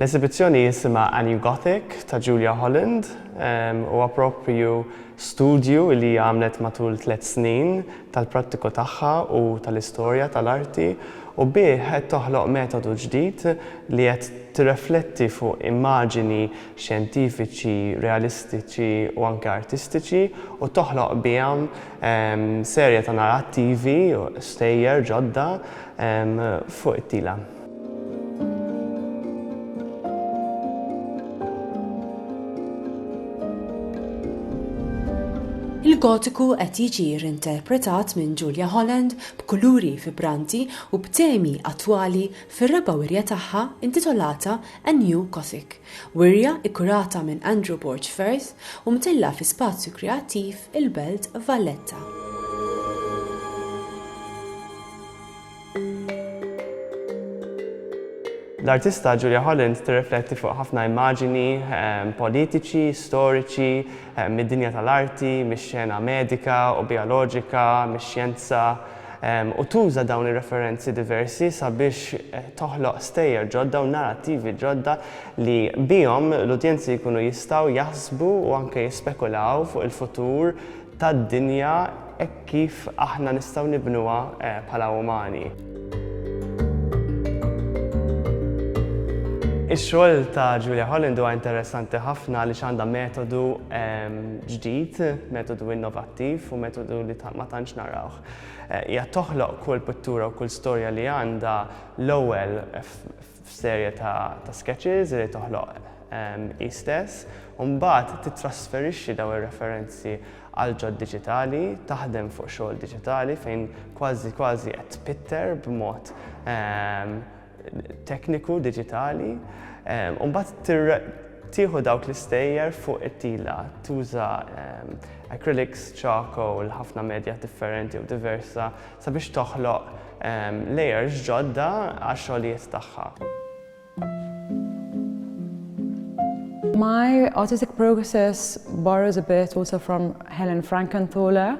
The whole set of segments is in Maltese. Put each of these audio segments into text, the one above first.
L-esibizzjoni jisimha A New Gothic ta' Julia Holland. Huwa proprju studju li hija għamlet matul tliet snin tal-prattiku tagħha u tal-istorja tal-arti u bih qed toħloq metodu ġdid li qed tirrefletti fuq immaġini xjentifiċi, realistiċi u anke artistiċi u toħloq biha serje ta' narrattivi u stejjer ġodda fuq it-tila. Il-Gotiku qed jiġi reinterpretat minn Julia Holland b'kuluri vibranti u b'temi attwali fir-raba' wirja tagħha intitolata A New Gothic, wirja kkurata minn Andrew Borg Firth u mtellgħa fi spazju kreattiv il-Belt Valletta. L-artista Julia Holland tirrifletti fuq ħafna immaġini politiċi, storiċi, mid-dinja tal-arti, mix-xena medika u bijoloġika, mix-xjenza, u tuża dawn ir-referenzi diversi sabiex toħloq stejjer ġodda u narattivi ġodda li bihom l-udjenzi jkunu jistgħu jaħsbu u anke jispekulaw fuq il-futur tad-dinja hekk kif aħna nistgħu nibnuha bħala umani. Ix-xogħol ta' Julia Holland huwa interessanti ħafna għaliex għandha metodu ġdid, metodu innovattiv. attiv u metodu li ma tantx narawh. Hija toħloq kull pittura u kull storja li għandha l-ewwel f'serje ta' ta' sketches li toħloq hi stess u mbagħad tittrasferixxi dawn ir-referenzi għal ġod diġitali, taħdem fuq xogħol diġitali fejn kważi kważi qed tpitter b'mod tekniku diġitali u mbagħad tieħu dawk l-istejjer fuq it-tila, tuża ehm, acrylics, charcoal, ħafna medja differenti u diversa sabiex toħloq ehm, layers ġodda għax xogħlijiet tagħha. My artistic process borrows a bit also from Helen Frankenthaler.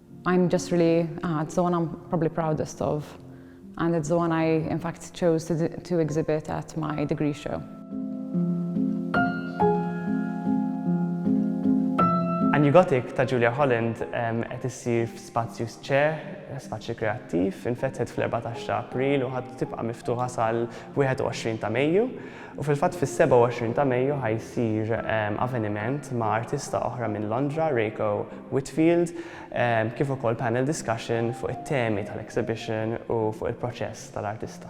I'm just really, ah, it's the one I'm probably proudest of. And it's the one I, in fact, chose to, to exhibit at my degree show. A New Gothic ta' Julia Holland qed issir f'spazju sċe, spazju kreattiv, infetħet fl-14 ta' April u ħadd tibqa' miftuħa sal-21 ta' Mejju. U fil-fatt fis-27 ta' Mejju ħa jsir aveniment ma' artista oħra minn Londra, Reiko Whitfield, kif ukoll panel discussion fuq it-temi tal-exhibition u fuq il-proċess tal-artista.